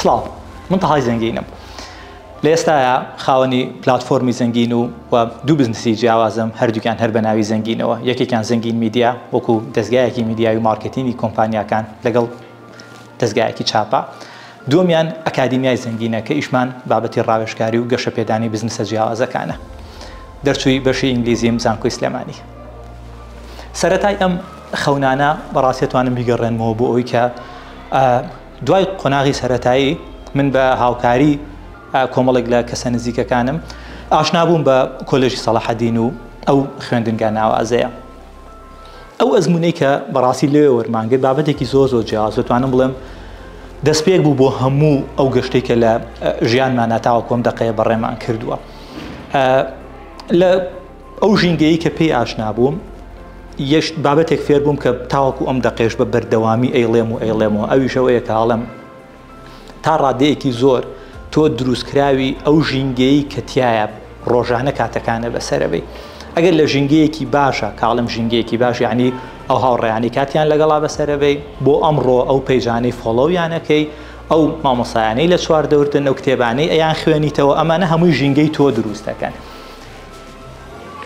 سڵاو من تەهای زەنگینم لە ئێستایا خاوەنی پلاتفۆرمی زەنگین و و دوو بزنسی جیاوازم هەردووکیان هەر بە ناوی زەنگینەوە یەکێکیان زەنگین میدیا وەکو دەستگایەکی میدیاوی مارکتینی کۆمپانیاکان لەگەڵ دەستگایەکی چاپە دووەمیان ئەکادیمیای زەنگینە کە ئیشمان بابەتی ڕاوێژکاری و گەشەپێدانی بزنسە جیاوازەکانە دەرچووی بەشی ئینگلیزیم زانکۆی سلێمانی سەرەتای ئەم خەونانە بەڕاستێتوانم بیگەڕێنمەوە بۆ ئەوی کە دوای قۆناغی سەرەتایی من بە هاوکاری کۆمەڵێک لە کەسە نزیکەکانم ئاشنا بووم بە کۆلێژی سەڵاحەدین و ئەو خوێندنگا ناوازەیە. ئەو ئەزموونەی کە بەڕاستی لەوێ وەرمانگرت بابەتێکی زۆر زۆر جیاواز دەتوانم بڵێم دەستپێک بوو بۆ هەموو ئەو گەشتەی کە لە ژیانمانا تاوەکو ئەم دەقەیە بەڕێمان کردووە. لە ئەو ژینگەیی کە پێی ئاشنا بووم یشت بابەتێک فێر بووم کە تاوەکو ئەم دەقێش بە بەردەوامی ئەیڵێم و ئەیڵێمەوە ئەویشەوەیە کاڵم تا ڕادەیەکی زۆر تۆ دروستکراوی ئەو ژینگەیی کە تایە ڕۆژانە کاتەکانە بەسەرەوەی ئەگەر لە ژینگەیەکی باشە کاڵم ژینگەیەکی باش یعنی ئەو هاوڕێیانی کاتیان لەگەڵا بەسەرەوەی بۆ ئەمڕۆ ئەو پەیجانەی فۆڵۆویانەکەی ئەو مامۆسایانەی لە چواردەورتن ئەو کتێبانەی ئەیان خوێنیتەوە ئەمانە هەمووی ژینگەی تۆ دروستەکەن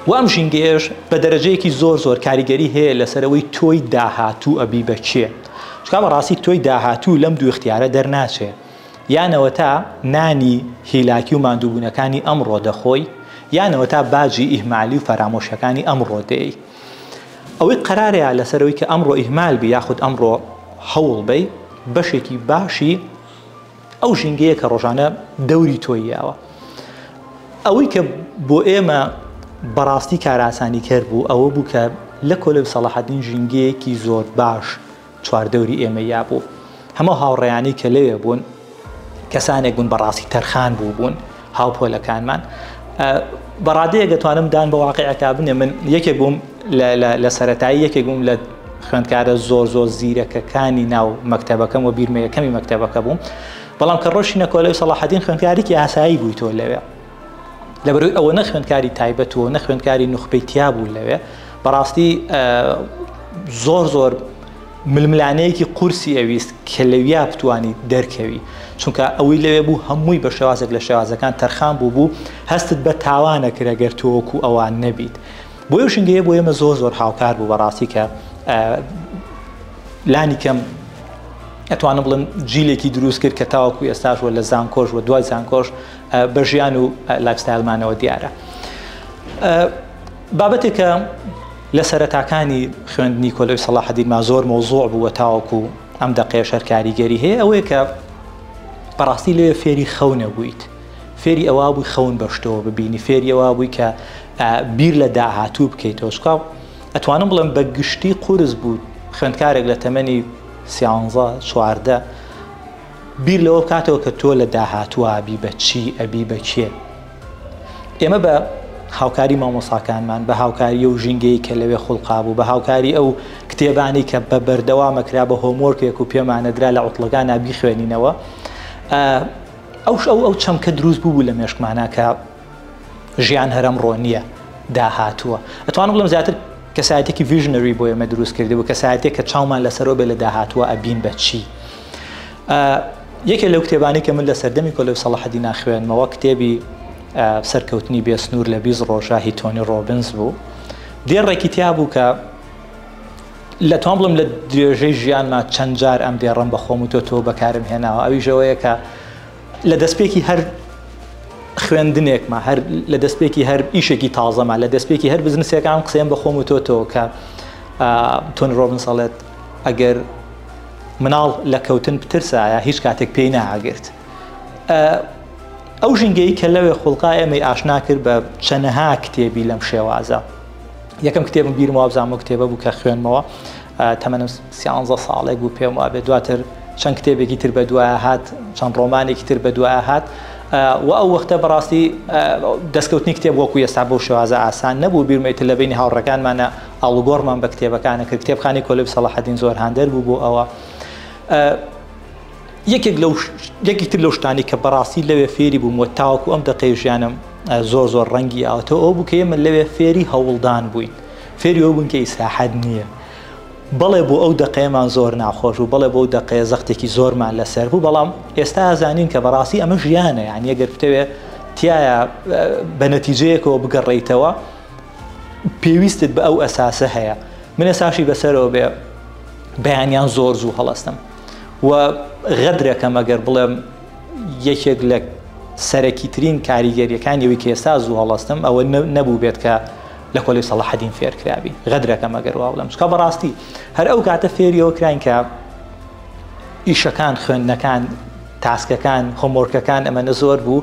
و ئەم ژینگەیەش بە دەرەجەیەکی زۆر زۆر کاریگەری هەیە لەسەرەوەی تۆی داهاتوو ئەبی بە کێ چکا بەڕاستی تۆی داهاتوو لەم دوو اختیارە دەرناچێ یانەوە تا نانی هیلاکی و ماندووبوونەکانی ئەمڕۆ دەخۆی یانەوە تا باجی ئیهمالی و فەرامۆشەکانی ئەمڕۆ دێی ئەوەی قەرارەیە لەسەرەوەی کە ئەمڕۆ ئیهمال بی یاخود ئەمڕۆ هەوڵ بی بەشێکی باشی ئەو ژینگەیە کە ڕۆژانە دەوری تۆی یاوە ئەوەی کە بۆ ئێمە بەڕاستی کاراسانی کەر بوو ئەوە بوو کە لە کۆلێب سەڵاحەدین ژینگەیەکی زۆر باش چواردەوری ئێمە یا بوو هەموو هاوڕێیانی کە لەوێ بوون کەسانێک بوون بەڕاستی تەرخان بوو بوون هاوپۆلەکانمان بە ڕادەیەک دەتوانم دان بە واقعەکە بنێ من یەکێک بووم لە سەتایی یەکێک بووم لە خوێندکارە زۆر زۆر زیرەکەکانی ناو مەکتتەبەکەم و بیرمەیەکەمی مەکتتەبەکە بووم بەڵام کە ڕۆشی نەکۆلەوەی سەڵاحدین خوێندکارێکی ئاسایی بووی تۆ لەوێ لەبەروی ئەوە نەخوێندکاری تایبەت و نەخوێندکاری نوخبەی تیا بوو لەوێ بەڕاستی زۆر زۆر ململانێیەکی قورسی ئەویست کە لەویا بتوانی دەرکەوی چونکە ئەوەی لەوێ بوو هەمووی بە شێوازێک لە شێوازەکان تەرخان بووبوو هەستت بە تاوانە کرد ئەگەر تۆ وەکو ئەوان نەبیت بۆیە شنگەیە بۆ ئێمە زۆر زۆر هاوکار بوو بەڕاستی کە لانی کەم ئەتوانم بڵم جیلێکی دروست کرد کە تاوەکو ئێستاش وە لە زانکۆش و دوای زانکۆش بە ژیان و لایفستایلمانەوە دیارە بابەتێکە لە سەرەتاکانی خوێندنی کۆلێژ سەڵاحەدینما زۆر مەوزوع بوو و تاوەکو ئەم دەقەیەش هەر کاریگەری هەیە ئەوەیە کە بەڕاستی لەوێ فێری خەو نەبوویت فێری ئەوا بووی خەون بەشتەوە ببینی فێری ئەوا بووی کە بیر لە داهاتوو بکەیتەوە چکا ئەتوانم بڵێم بە گشتی قورس بوو خوێندکارێک لە تەمەنی سیانزە چواردە بیر لەوە بکاتەوە کە تۆ لە داهاتوە بی بە چی ئەبی بە کێ ئێمە بە هاوکاری مامۆساکانمان بە هاوکاری و ژینگەی کە لەوێ خوڵقابوو بە هاوکاری ئەو کتێبانی کە بە بەردەوامەکرا بە هۆمۆرکێک و پێمانەدرا لە عوتڵەکان نابی خوێنینەوە ئەوش ئەو ئەو چەمکە دروست بوو لە مێشکمانە کە ژیان هەرم ڕۆنیە داهاتووە ئەتوان بڵم زیاتر کەسایەتێکی ڤژنەری بۆ ئێمە دروست کردی بوو کەسایەتێک کە چاومان لەسەرۆ بێ لە داهاتووە ئەبین بە چی؟ یەکێ لەو کتێبانەی کە من لە سەردەمی کۆلێو سەڵاحەدینا خوێنمەوە کتێبی سەرکەوتنی بێسنوور لە بیست ڕۆژە هی تۆنی ڕۆبنز بوو دێڕێکی تیا بوو کە لە تۆم بڵم لە درێژەی ژیانما چەند جار ئەم دێڕم بە خۆم و تۆ تۆ بەکارم هێناوە ئەویشەوەیە کە لە دەستپێکی هەر خوێندنێکمە هەر لە دەستپێکی هەر ئیشێکی تازەمە لە دەستپێکی هەر بزنسێکان قسەم بە خۆم و تۆ تۆ کە تۆن ڕۆبن سەڵێت ئەگەر مناڵ لە کەوتن بترسایە هیچ کاتێک پێی ناگرت ئەو ژنگەی کە لەوێ خوڵقا ئێمەی ئاشنا کرد بە چەنەها کتێبی لەم شێوازە یەکەم کتێبم بیرم وابزان بۆ کتێبە بوو کە خوێنمەوە تەمەنم سیانزە ساڵێک بوو پێم وابێ دواتر چەند کتێبێکی تر بە دوای هات چەند ڕۆمانێکی تر بە دوای هات و ئەو وەختە بەڕاستی دەستکەوتنی کتێب وەکو ئێستا بۆ شێوازە ئاسان نەبوو بیرمێتە لە بینی هاوڕەکانمانە ئاڵوگۆڕمان بە کتێبەکانە کرد کتێبخانی کۆلب سەڵاحەدین زۆر هاندەر بوو بۆ ئەوە یەکێک لەو یەکی تر لەو شتانی کە بەڕاستی لەوێ فێری بووم و تاوەکو ئەم دقەی ژیانم زۆر زۆر ڕەنگی ئاوتەوە ئەو بکە ئێمە لەوێ فێری هەوڵدان بووین فێری ئەو بوون کە ئیسراحەت نییە بەڵێ بۆ ئەو دقەیەمان زۆر ناخۆش و بەڵێ بۆ ئەو دقەیە زەختێکی زۆرمان لەسەر بوو بەڵام ئێستا زانین کە بەڕاستی ئەمە ژیانە یان یەگەر بتەوێت تایە بە نەتیجەیەکەوە بگەڕیتەوە پێویستت بە ئەو ئەساسە هەیە من ئەساشی بەسەرەوە بێ بەیانیان زۆر زوو هەڵستم و غەدرەکەم ئەگەر بڵێم یەکێک لە سەرەکی ترین کاریگەریەکان یەوی کە ئێستا زوو هەڵستم ئەوە نەبوو بێت کە لە کۆلی سەڵحدین فێرکراوی غەدرەکەم ئەگەر وا بڵم چکە بەڕاستی هەر ئەو کاتە فێریەوە کراین کە ئیشەکان خوێندنەکان تاسکەکان هۆمۆرکەکان ئەمەە زۆر بوو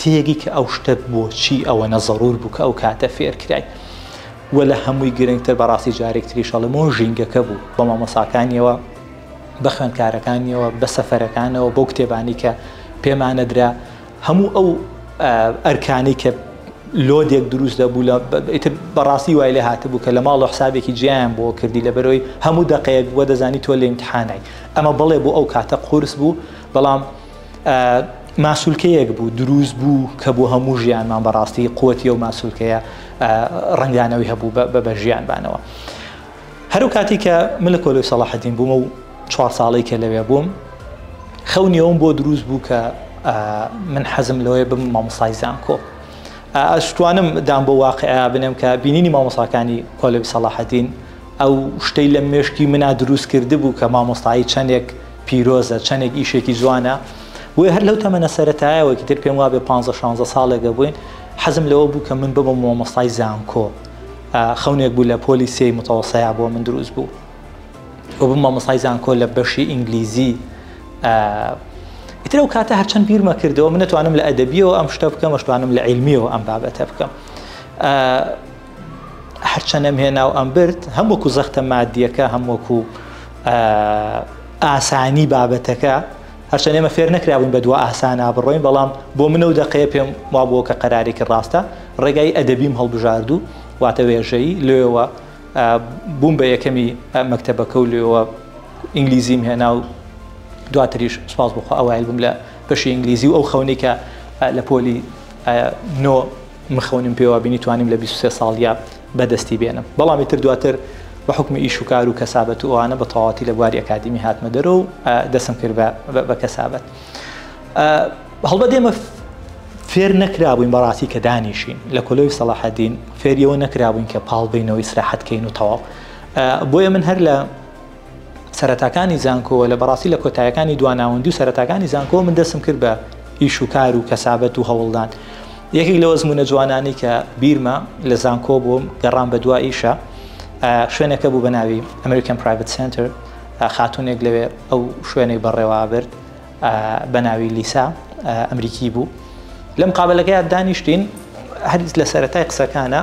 تێگەی کە ئەو شتە بۆچی ئەوەنە زەرور بوو کە ئەو کاتە فێر کرای و لە هەمووی گرنگتر بەڕاستی جارێک تریش ئەڵێم ئەو ژینگەکە بوو بە مامۆساکانیەوە بە خوێندکارەکانیەوە بە سەفەرەکانەوە بەو کتێبانی کە پێمانەدرا هەموو ئەو ئەرکانی کە لۆدێک دروست دەبوو لە ئیتر بەڕاستی وای لێ هاتبوو کە لە ماڵ و حسابێکی جیان بۆ کردی لە بەرەوەی هەموو دەقەیەک بووە دەزانی تۆ لە امتحانای ئەمە بڵێ بۆ ئەو کاتە قورس بوو بەڵام ماسولکەیەک بوو دروست بوو کە بۆ هەموو ژیانمان بەڕاستی قوتی و ماسولکەیە ڕنگدانەوەی هەبوو بە ژیانبانەوە هەرو کاتی کە من لە کۆلۆی سەڵاحدین بوومە و چوار ساڵی کە لەوێ بووم خەونیەوەم بۆ دروست بوو کە من حەزم لەوەیە بم مامۆسای زانکۆ ئەشتوانم دام بۆ واقعیا بنێم کە بینینی مامۆساکانی کۆلۆی سەڵاحدین ئەو شتەی لە مێشکی منا دروست کرد بوو کە مامۆستایی چەندێک پیرۆزە چەنێک ئیشێکی جوانە بۆیە هەر لەو تەمەنە سەرەتایەوەکی تر پێم وابێ 15 16 ساڵێکە بووین حەزم لەوە بوو کە من ببم مۆمۆستای زانکۆ خەونێک بوو لە پۆلی سێی متەوەسەیە بۆ من دروست بوو و بم مامۆستای زانکۆ لە بەشی ئینگلیزی ئیتر ئەو کاتە هەرچەند بیرمە کردەوە من نتوانم لە ئەدەبیەوە ئەم شتە بکەم مەشتوانم لە عیلمیەوە ئەم بابەتە بکەم هەرچەند ئەم هێنا و ئەم برد هەم وەکو زەختە مادیەکە هەم وەکو ئاسانی بابەتەکە هەرچەند ئێمە فێر نەکراون بە دو ئاسانا بڕۆین بەڵام بۆ منە و دەقەیە پێم وا بووە کە قەرارێکی ڕاستە ڕێگای ئەدەبیم هەڵبژاردو واتە وێژەی لێەوە بووم بە یەکەمی مەکتتەبەکە و لێەوە ئینگلیزیم هێنا و دواتریش سپاس بخۆ ئەوایل بووم لە بەشی ئینگلیزی و ئەو خەونێکە لە پۆلی نۆ مخونیم پێوابینی توانیم لە بیست و سێ ساڵیا بەدەستی بێنم بەڵام ئیتر دواتر بە حوکمی ئیش و کار و کەسابەت و ئەوانە بە تەواتی لە بواری ئەکادیمی هاتمە دەرو و دەسم کرد بە کەسابەت هەڵبەت ئێمە فێر نەکرابووین بەڕاستی کە دانیشین لە کۆلۆی سەڵاحەدین فێریەوە نەکرابووین کە پاڵ بینەوەی سراحەتکەین و تەواو بۆیە من هەر لە سەرەتاکانی زانکۆوە لە بەڕاستی لە کۆتایەکانی دوا ناوەندی و سەرەتاکانی زانکۆوە من دەستم کرد بە ئیش و کار و کەسابەت و هەوڵدان یەکێک لەو ئەزمونە جوانانەی کە بیرمە لە زانکۆ بووم گەڕان بە دوا ئیشە شوێنەکە بوو بە ناوی ئەمریکن پرایڤت سنتەر خاتونێک لەوێ ئەو شوێنەی بەڕێوا برد بە ناوی لیسا ئەمریکی بوو لەم قابلەکەیان دانیشتین هەرز لە سەرەتای قسەکانە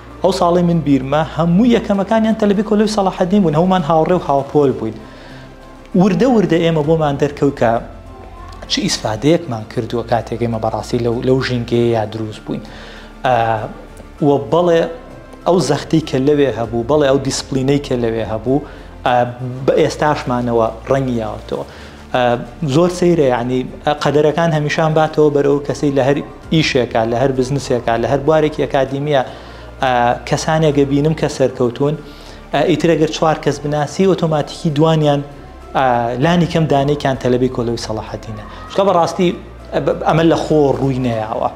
ئەو ساڵەی من بیرمە هەموو یەکەمەکانیان تەلەبەی کۆلێژ سەڵاحەدین بوون، هەموومان هاوڕێ و هاوپۆل بووین. وردە وردە ئێمە بۆمان دەرکەوت کە چ ئیسفادەیەکمان کردووە کاتێک ئێمە بەڕاستی لەو لەو ژینگەیە دروست بووین. و بەڵێ ئەو زەختی کە لەوێ هەبوو، بەڵێ ئەو دیسپلینەی کە لەوێ هەبوو بە ئێستاشمانەوە ڕەنگی یاوەتەوە. زۆر سەیرە یەعنی ئە قەدەرەکان هەمیشان باتەوە بەرەو کەسەی لە هەر ئیشێکە لە هەر بزنسێکە لە هەر بوارێکی ئەکادیمیە کەسانێکە بینم کە سەرکەوتون ئیترەگەر چوار کەس بناسی ئۆتۆماتیکی دوانیان لانی کەم دانێکیان تەلبی کۆلەوی سەڵاحەتینە چکە بەڕاستی ئەمە لە خۆ ڕووی نەیەوە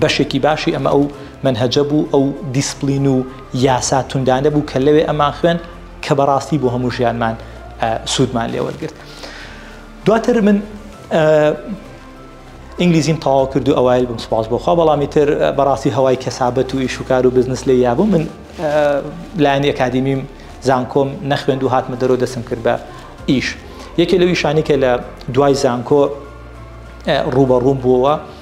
بەشێکی باشی ئەمە ئەو مەنهەجە بوو، ئەو دیسپلین و یاسا توندانە بوو کە لەوێ ئەمان خوێند کە بەڕاستی بۆ هەموو ژیانمان سوودمان لێ وەرگرت. دواتر من ئینگلیزیم تەواو کرد و ئەوایل بم سپاس بۆخوا بەڵامی تر بەڕاستی هەوای کەسابەت و ئیش و کار و بزنس لێ یابوو من لایەنی ئەکادیمیم زانکۆم نەخوێند و هاتمە دەرەوە دەستم کرد بە ئیش یەکێ لەو ئیشانی کە لە دوای زانکۆ ڕوبەڕووم بووەوە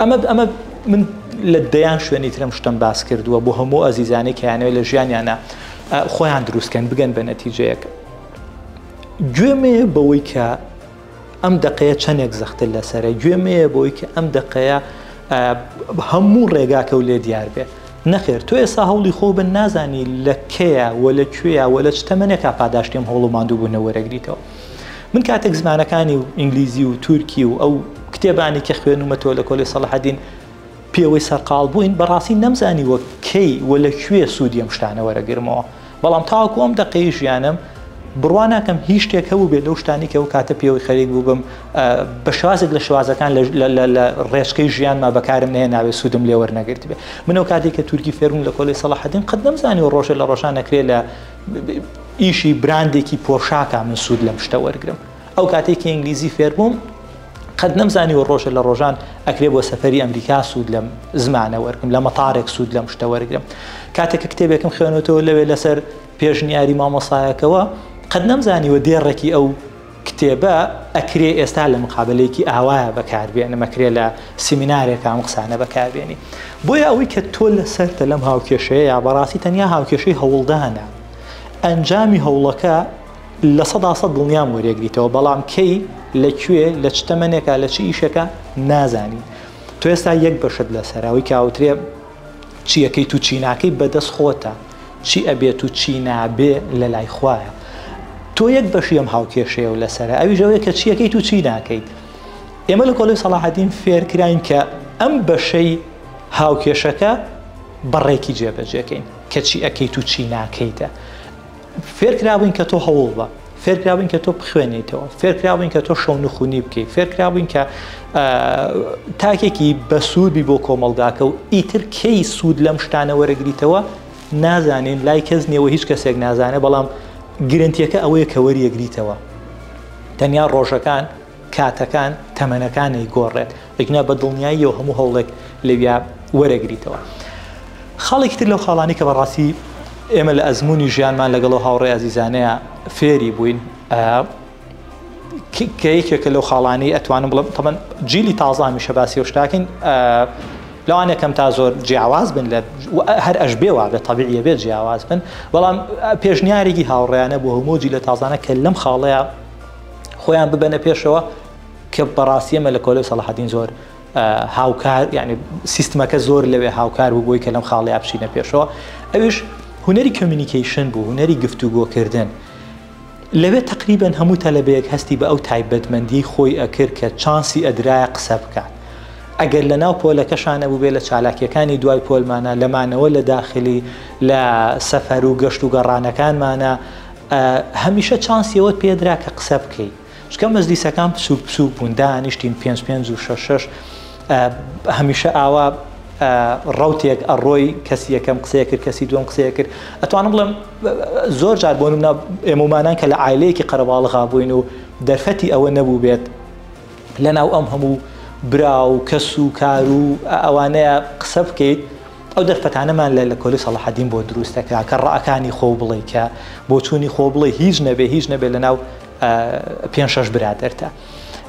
ئەمە ئەمە من لە دەیان شوێنی ترم شتم باس کردووە بۆ هەموو ئازیزانەی کەیانەوەی لە ژیانیانە خۆیان دروستکەن بگەن بە نەتیجەیەک گوێمێ بەوەی کە ئەم دقەیە چەندێک زەختر لەسرە گوێمەیە بۆی کە ئەم دقەیە هەموو ڕێگاکە و لێ دیار بێت نەخێر تۆ ئێستا هەوڵی خۆ بن نازانی لە کەیە وە لە کوێە وە لە چتەمەنێکا پاداشتیم هەوڵ و مادوو بوونە وەرەگریتەوە من کاتێک زمانەکانی و ئینگلیزی و تورکی و ئەو کتێبانی کە خوێنومەتەوە لە کۆلی سەڵحدین پێوەی سەرقال بووین بەڕاستی نەمزانی وە کەی و لە کوێ سوودی ئەم شتانە وەرەگرمەوە بەڵام تاوەکو ئەم دەقەی ژیانم بڕوا ناکەم هیچ شتێک هەبوو بێ لەو شتانی کە ئەو کاتە پێوەی خەریک بووبم بە شوازێک لە شوازەکان لە ڕێچکەی ژیانما بەکارم نێ ناوێ سوودم لێوەرنەگرت بێ منەوە کاتێک کە تورکی فێرمون لە کۆلی سەڵحدین قەت نەمزانی و ڕۆژە لە ڕۆژان نەکرێ لە ئیشی براندێکی پۆشاکە من سوود لەم شتە وەرگرم ئەو کاتێک کە ئینگلیزی فێربووم قەت نەمزانی و ڕۆژە لە ڕۆژان ئەکرێ بۆ سەفری ئەمریکا سوود لەم زمانە وەرگم لە مەتارێک سوود لەم شتە وەرگم کاتێک کە کتێبێکم خوێنەوەەوە لەوێ لەسەر پێشنیاری مامۆسایەکەوە قەت نەمزانیوە دێڕێکی ئەو کتێبە ئەکرێ ئێستا لە مقابەلەیەکی ئاوایا بەکار بێنم ئەکرێ لە سیمینارێکا ئەم قسانە بەکار بێنی بۆیە ئەوەی کە تۆ لە سەرتە لەم هاوکێشەیە بەڕاستی تەنیا هاوکێشەی هەوڵدانە ئەنجامی هەوڵەکە لە سەدا سەد دڵنیام وەرێگریتەوە بەڵام کەی لە کوێ لە چ تەمەنێکا لە چ ئیشێکە نازانی تۆ ئێستا یەک بەشت لەسەرە ئەوەی کە ئەوترێ چی ئەکەیت و چی ناکەی بەدەست خۆتە چی ئەبێت و چی نابێ لەلای خوایە تۆ یەک بەشی ئەم هاوکێشەیە و لەسەرە ئەویش ئەوەیە کە چی ئەکەیت و چی ناکەیت ئێمە لە کۆلێژ سەڵاحەدین فێرکراین کە ئەم بەشەی هاوکێشەکە بەڕێکی جێبەجێکەین کە چی ئەکەیت و چی ناکەیتە فێرکرابووین کە تۆ هەوڵ بە، فێرکرابووین کە تۆ بخوێنیتەوە، فێرکرابووین کە تۆ شەو نخونی بکەیت، فێرکرابووین کە تاکێکی بەسوودبی بۆ کۆمەڵگاکە و ئیتر کەی سوود لەم شتانە وەرەگریتەوە نازانین لای کەس نیەوە هیچ کەسێک نازانێت بەڵام گرنتیەکە ئەوەیە کە وەریەگریتەوە تەنیا ڕۆژەکان کاتەکان تەمەنەکانی گۆڕێت ئیگنا بە دڵنیاییەوە هەموو هەوڵێک لەویا وەرەگریتەوە. خاڵێکی تر لەو خاڵانەی کە بەڕاستی ئێمە لە ئەزموونی ژیانمان لەگەڵ ئەو هاوڕێ ئازیزانەیە فێری بووین، کە یەکێکە لەو خاڵانەی ئەتوانم بڵێم تەبەن جیلی تازە هەمیشە باسی ئەو شتاکەین، لەوانەیە کەم تا زۆر جیاواز بن لە هەر ئەش بێ وابێت تەبیعیە بێت جیاواز بن، بەڵام پێشنیارێکی هاوڕێیانە بۆ هەموو جیلە تازانە کە لەم خاڵەیە خۆیان ببەنە پێشەوە، کە بەڕاستی ئێمە لە کۆلێو سەڵاحەدین زۆر هاوکار یعنی سیستمەکە زۆر لەوێ هاوکار بوو بۆی کە لەم خاڵیا بچینە پێشەوە ئەوش هوەری کمیونیکیشن بوو هوەری گفتوگۆکردن لەوێ تقریبن هەموو تەلەبەیەک هەستی بە ئەو تایبەتمەندی خۆی ئەکرد کە چانسی ئەدرایە قسە بکات ئەگەر لە ناو پۆلەکەشانە بووبێ لە چالاکیەکانی دوای پۆلمانە لەمانەوە لە داخلی لە سەفەر و گەشت و گەڕانەکانمانە هەمیشە چانسیەوەت پێدرا کە قسە بکەیت چونکە مەجلیسەکان بچووک بچووک بوون دانیشتین پێنج پێنج و شەش شەش هەمیشە ئاوا ڕوتێک ئەڕۆی کەسی یەکەم قسەیە کرد کەسی دوم قسەیە کرد ئەتوانم بڵێم زۆر جار بۆ منە ئێمەمانان کە لە عیلەیەکی قەرەباڵغا بووین و دەرفەتی ئەوە نەبوو بێت لەناو ئەم هەموو برا و کەس و کار و ئەوانەیە قسە بکەیت ئەو دەرفەتانەمان لە لە کۆلی سەڵحدین بۆ دروستەکە کە ڕەکانی خۆ بڵێ کە بۆچوونی خۆ بڵێ هیچ نەبێ هیچ نەبێت لە ناو پێنج شەش برادەرتە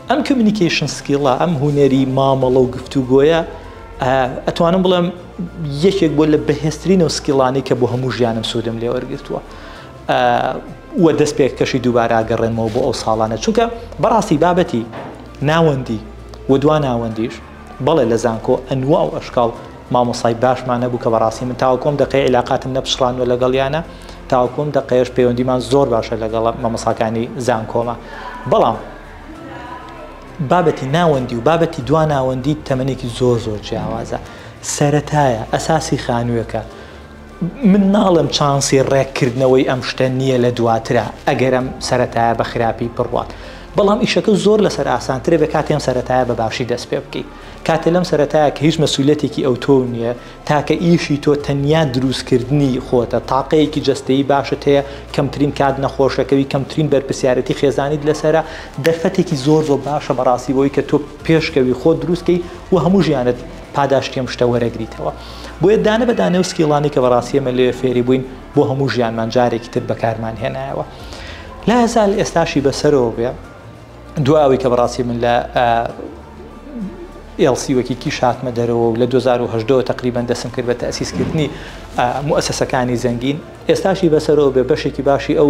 ئەم کمیونیکیشن سکیڵە ئەم هوەری مامەڵە و گفتوگۆیە ئەتوانم بڵێم یەکێک بۆ لە بەهێسترین و سکیڵانی کە بۆ هەموو ژیانم سوودم لێ وەرگتووە وە دەست پێک کەشی دووبارە گەڕێنمەوە بۆ ئەو ساڵانە چونکە بەڕاستی بابەتی ناوەندی و دوا ناوەندیش بەڵێ لە زانکۆ ئەنواع و ئەشکاڵ مامۆسای باشمان هەبوو کە بەڕاستی من تاوەکو ئەم دەقەیە عیلاقاتم نەپچڕاندوە لەگەڵیانا تاوەکو ئەم دەقەیەش پەیوەندیمان زۆر باشە لەگەڵ مامۆساکانی زانکۆمە بەڵام بابەتی ناوەندی و بابەتی دوا ناوەندی تەمەێکی زۆر زۆر جیاوازە سەتایە ئەساسی خانوویەکە من ناڵێم چانسی ڕێککردنەوەی ئەم شتە نییە لە دواترا ئەگەر ئەم سەرەتایە بە خراپی بڕوات، بەڵام ئیشەکە زۆر لەسەر ئاسانترە بێ کاتی ئەم سەرەتایە بە باشی دەست پێ بکەی. کاتێ لەم سەرەتایە کە هیچ مەسولیەتێکی ئەوتۆو نییە، تاکە ئیشی تۆ تەنیا دروستکردنی خۆتە، تاقەیەکی جەستەیی باشت هەیە، کەمترین کات نەخۆشەکەوی، کەمترین بەرپرسیارێتی خێزانیت لەسەرە، دەرفەتێکی زۆر زۆر باشە بەڕاستی بۆوەی کە تۆ پێشکەوی خۆت دروستکەی و هەموو ژیانت پاداشتی ئەم شتە وەرەگریتەوە بۆیە دانە بە دانەو سکیڵانی کە بەڕاستی ئێمە لێ فێری بووین بۆ هەموو ژیانمان جارێکی تر بەکارمان هێنایەوە لا هەزال ئێستاشی بەسەرەوە بێ دو ئەوی کە بەڕاستی من لە ئێڵسی وەکی کی شاتمە دەرەوە و لە 2010 تقریبان دەسم کرد بە تەسیسکردنی موسسەکانی زەنگین ئێستاشی بەسەرەوە بێ بەشێکی باشی ئەو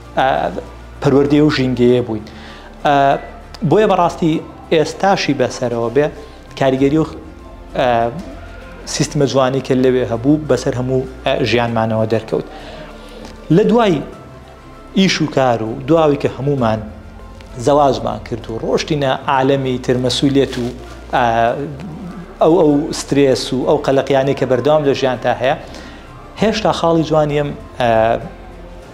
پەروەردەی و ژینگەیە بووین بۆیە بەڕاستی ئێستاشی بەسەرەوە بێ کاریگەری و سیستمە جوانی کە لەوێ هەبوو بەسەر هەموو ژیانمانەوە دەرکەوت لە دوای ئیش و کار و دواوی کە هەمومان زەواجمان کرد و ڕۆشتینە عالەمی ترمەسوولێت و ئەو ئەو سترێس و ئەو قەلەقیانەی کە بەردەوام لە ژیانتا هەیە هێشتا خاڵی جوانیم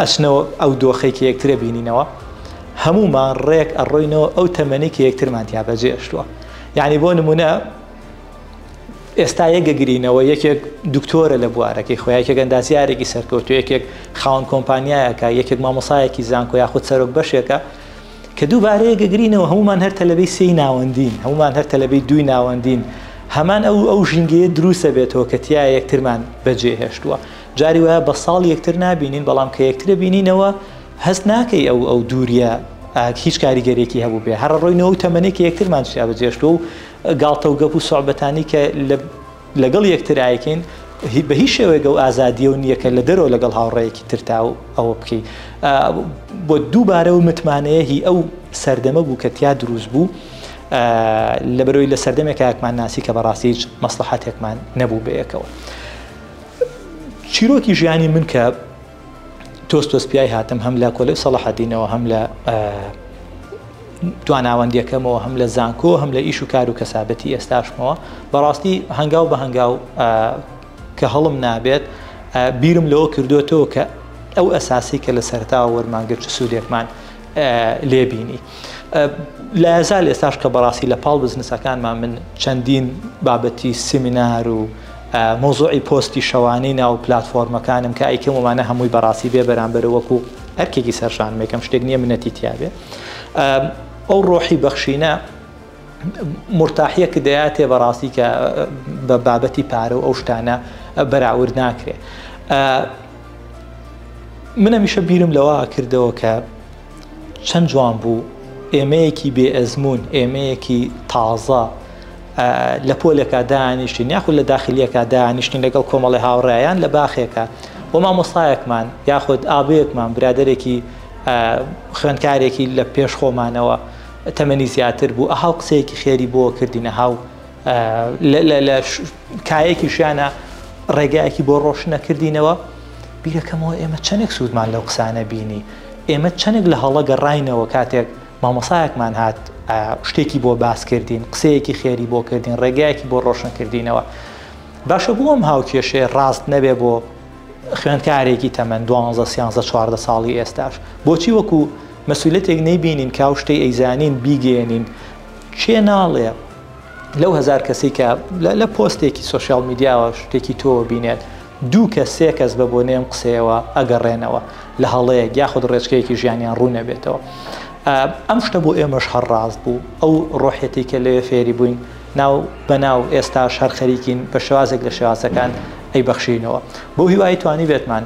ئەچنەوە ئەو دۆخەی کە یەکتر ئەبینینەوە هەموومان ڕێک ئەڕۆینەوە ئەو تەمەنی کە یەکترمان تیا بەجێشتووە یعنی بۆ نمونە ئێستا یەکگەگرینەوە یەکێک دکتۆرە لە بوارەکەی خۆ یەکێک ئەندازیارێکی سەرکەوتو یەکێک خاون کۆمپانیایەکە یەکێک مامۆسایەکی زانکۆ یاخود سەرۆک بەشێکە کە دووبارەیە گەگرینەوە هەمومان هەر تەلەبەی سی ناوەندین هەمومان هەر تەلەبەی دووی ناوەندین هەمان ئەو ئەو ژینگەیە دروستە بێتەوە کە تیا یەکترمان بەجێ هێشتووە جاری وایە بە ساڵ یەکتر نابینین بەڵام کە یەکترە بینینەوە هەست ناکەی ئەو ئەو دووریە هیچ کاریگەرێکی هەبوو بێ هەر ڕۆی نەوە تەمەێکی یەکترمان شیابەجێشتوە و گاڵتە و گەپ و سوعبەتانی کە لەگەڵ یەکتر ئایکەین بە هیچ شێوەیەگە و ئازادیە و نییەکە لە دەرەوە لەگەڵ هاوڕەیەکی ترتا و ئەوە بکەیت بۆ دووبارە و متمانەیە هی ئەو سەردەمە بوو کە تیا دروست بوو لە بەرۆی لە سەردەمێک کاکمان ناسی کە بەڕاستیج مەسلحاتێکمان نەبوو بەیەکەوە. چیرۆکی ژیانی من کە تۆز تۆز پیای هاتم هەم لە کۆلێ سەڵحەدینەوە هەم لە تواناوەندیەکەمەوە هەم لە زانکۆ هەم لە ئیش و کار و کەسابەتی ئێستاشمەوە بەڕاستی هەنگاو بە هەنگاو کە هەڵم نابێت بیرم لەوە کردوێتەوە کە ئەو ئەساسی کە لە سەرتا وەرمانگە چ سوودێکمان لێبینی لازال ئێستاش کە بەڕاستی لە پاڵ بزنسەکانمان من چەندین بابەتی سیمینار و مەوزوعی پۆستی شەوانەی ناو پلاتفۆرمەکانم کە ئەیکەم ومانە هەمووی بەڕاستی بێ بەرامبەرە وەکو ئەرکێکی سەرشانم یەکەم شتێک نییە منەتی تیاێ ئەو ڕۆحی بەخشینە مرتاحیە کە دەیاتێ بەڕاستی کە بە بابەتی پارە و ئەو شتانە بەراورد ناکرێ منە میشە بیرم لەوە کردەوە کە چەند جوان بوو ئێمەیەکی بێ ئەزمون ئێمەیەکی تازە لە پۆلێکا دانیشتین یاخود لە داخلیەکە دانیشتین لەگەڵ کۆمەڵی هاوڕێیان لە باخێکە و مامۆستایەکمان یاخود ئابەیەکمان برادێکی خوێندکارێکی لە پێش خۆمانەوە تەمەنی زیاتر بوو ئەهاو قسەیەکی خێری بۆ کردینە هاو لە کایەکیشیانە ڕێگایەکی بۆ ڕۆشنە کردینەوە بیرەکەمەوە ئێمە چەندێک سوودمان لەو قسانە بینی ئێمە چەندێک لە هەڵە گەڕینەوە کاتێک مامۆسایەکمان هات شتێکی بۆ باس کردین قسەیەکی خێری بۆ کردین ڕێگایەکی بۆ ڕۆشن کردینەوە باشە بۆ ئەم هاوکێشێ ڕاست نەبێ بۆ خوێندکارێکی تەمەەن دوانزە سیانزە چواردە ساڵی ئێستاش بۆچی وەکو مەسولەتێک نەیبینین کاو شتەی ئەیزانین بیگەێنین چێ ناڵێ لەو هەزار کەسەی کە لە پۆستێکی سۆشیاڵ میدیاوە شتێکی تۆوە بینێت، دوو کەس سێ کەس بە بۆنەی ئەم قسەیەوە ئەگەڕێنەوە لە هەڵەیەک یاخود ڕێچکەیەکی ژیانیان ڕوون نەبێتەوە. ئەم شتە بۆ ئێمەش هەر ڕاست بوو، ئەو ڕۆحیەتەی کە لەوێ فێری بووین ناو بە ناو ئێستاش هەر خەریکین بە شێوازێک لە شێوازەکان ئەیبەخشینەوە. بەو هیوایەی توانیبێتمان.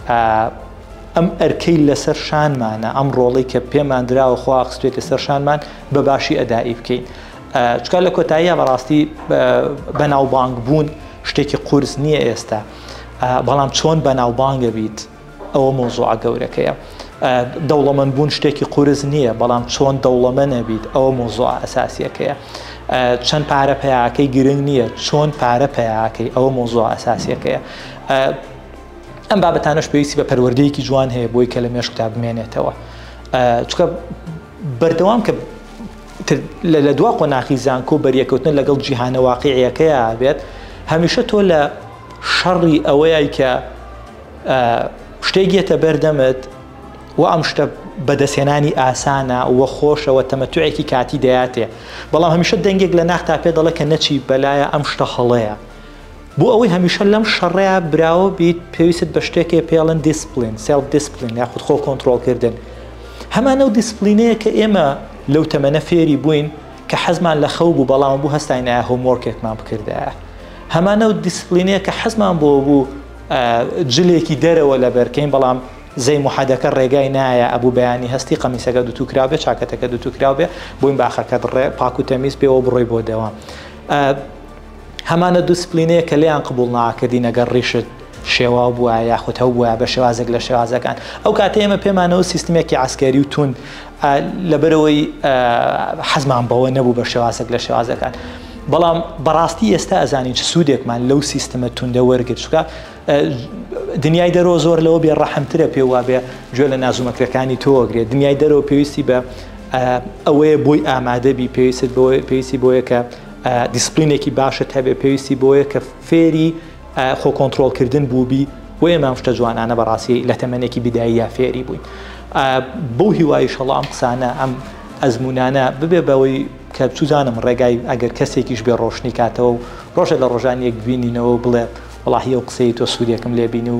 ئا ئەم ئەرکەی لەسەر شانمانە ئەم ڕۆڵەی کە پێمان دراوە خوا خستێتە سەر شانمان بە باشی ئەدائی بکەین چکار لە کۆتاییە بەڕاستی بەناوبانگ بوون شتێکی قورس نییە ئێستا بەڵام چۆن بەناوبانگە بیت ئەوە مۆزوعە گەورەکەیە دەوڵەمەند بوون شتێکی قورس نییە بەڵام چۆن دەوڵەمە نەبیت ئەوە مۆزوع ئەساسیەکەیە چەند پارە پیاکەی گرنگ نییە چۆن پارە پیاکەی ئەوە مۆزوع ئەساسیەکەیە ئەم بابەتانەش پێویستی بە پەروەردەیەکی جوان هەیە بۆی کە لە مێشکتا بمێنێتەوە چکە بەردەوام کە لە دوا قۆناخی زانکۆ بەریەکەوتن لەگەڵ جیهانە واقعیەکەیە بێت هەمیشە تۆ لە شەڕی ئەوەیە کە شتێکێتە بەردەمت و ئەم شتە بەدەستێنانی ئاسانە و خۆشەوە تەمەتوعێکی کاتی دەاتێ بەڵام هەمیشە دەنگێک لە ناختا پێ دەڵێ کە نەچی بەلایە ئەم شتە هەڵەیە بۆ ئەوەی هەمیشە لەم شەڕەیا براوە بیت پێویست بە شتێکێ پێڵن دیسپلین سێڵف دیسپلین یاخود خۆ کۆنتترۆلکردن هەمانە و دیسپلینەیە کە ئێمە لەو تەمەە فێری بووین کە حەزمان لە خەو بوو بەڵام بوو هەستاینایە هۆمۆرکێکمان بکردایە هەمانە و دیسپلینەیە کە حەزمان بۆ بوو جلێکی دەرەوە لە بەرکەین بەڵام زەی محەدەکە ڕێگای نایە ئەبوو بەیانی هەستی قەمیسەکە دوتوکرا بێ چاکەتەکە دوتوکرا بێ بۆین باخەکە دڕێ پاکو تەمیز پێوە بڕۆی بۆ دەوام هەمانە دوسپلینەیە کە لێیان قبوڵ ناکردین ئەگەر ڕیشت شێواو بووە یاخود هەو بووە بە شێوازێک لە شێوازەکان ئەو کاتە ئێمە پێمانەوە سیستمێکی عسکەری و تون لەبەرەوەی حەزمان بەوە نەبوو بە شێوازێک لە شێوازەکان بەڵام بەڕاستی ئێستا ئەزانین چ سوودێکمان لەو سیستمە توندە وەرگر چکە دنیای دەرەوە زۆر لەوە بێ ڕەحمترە پێ وابێ گوێ لە نازومەکرەکانی تۆگرێت دنیای دەرەوە پێویستی بە ئەوەیە بۆی ئامادەبی پێویست بۆ پێویستی بۆیە کە دیسپلینێکی باشت هەبێ پێویستی بۆیە کە فێری خۆ کۆنتترۆلکردن بووبی و ئێمام شتە جوانانە بەڕاستی لە تەمەێکی بداییە فێری بووین بەو هیوای شەڵ ئەم قسانە ئەم ئەزمونانە ببێ بەوەی کە بچوزانم ڕێگای ئەگەر کەسێکیش بێ ڕۆشنی کاتەوە و ڕۆژە لە ڕۆژان یەک ببینینەوە بڵێ وڵاهی و قسەی تۆ سوودێکم لێبین و